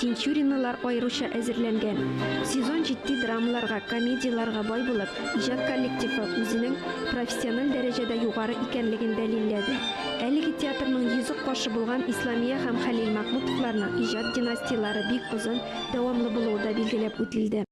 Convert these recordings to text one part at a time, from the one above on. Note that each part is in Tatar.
Тинчуринлылар аеруча әзерләнгән. Сезон җитди драмаларга, комедияләргә бай булып, иҗат коллективы үзенең профессиональ дәрәҗәдә югары икәнлеген дәлилләде. Әлеге театрның йөзек кашы булган Исламия һәм Хәлил Мәхмүтовларның иҗат династияләре бик озын, дәвамлы булуы да билгеләп үтелде.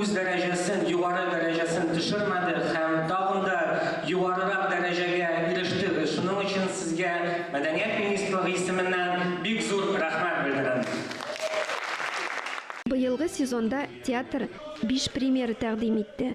үз дәрәҗәсен, югары дәрәҗәсен төшермәде һәм тагын да югарырак дәрәҗәгә ирештегез. Шуның өчен сезгә мәдәният министрлыгы исеменнән бик зур рәхмәт белдерәм. Быелгы сезонда театр биш премьера тәкъдим итте.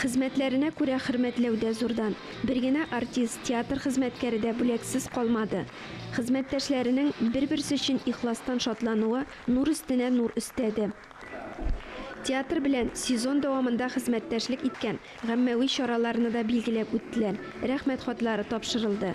Хезмәтләренә күрә хөрмәтләү дә зурдан. Бер генә артист, театр хезмәткәре дә бүләксез калмады. Хезмәттәшләренең бер-берсе өчен ихластан шатлануы нур өстенә нур өстәде. Театр белән сезон дәвамында хезмәттәшлек иткән гаммәви чараларны да билгеләп үттеләр, рәхмәт хатлары тапшырылды.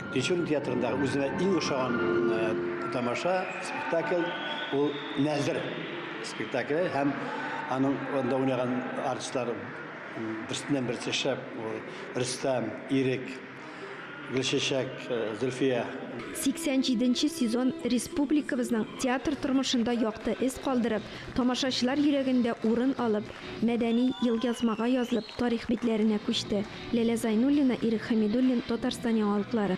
Тинчурин театрындагы үземә иң ошаган тамаша, спектакль ул Нәзер спектакле һәм аның анда уйнаган артистлар берсеннән берсе шәп. Рөстәм, Ирек, Гөлчәчәк, Зөлфия. 87 нче сезон республикабызның театр тормышында якты эз калдырып, Тамашачылар йөрәгендә урын алып, мәдәни елъязмага язылып тарих битләренә күчте Ләлә Зайнуллина, Ирек Хәмидуллин, Татарстан яңалыклары.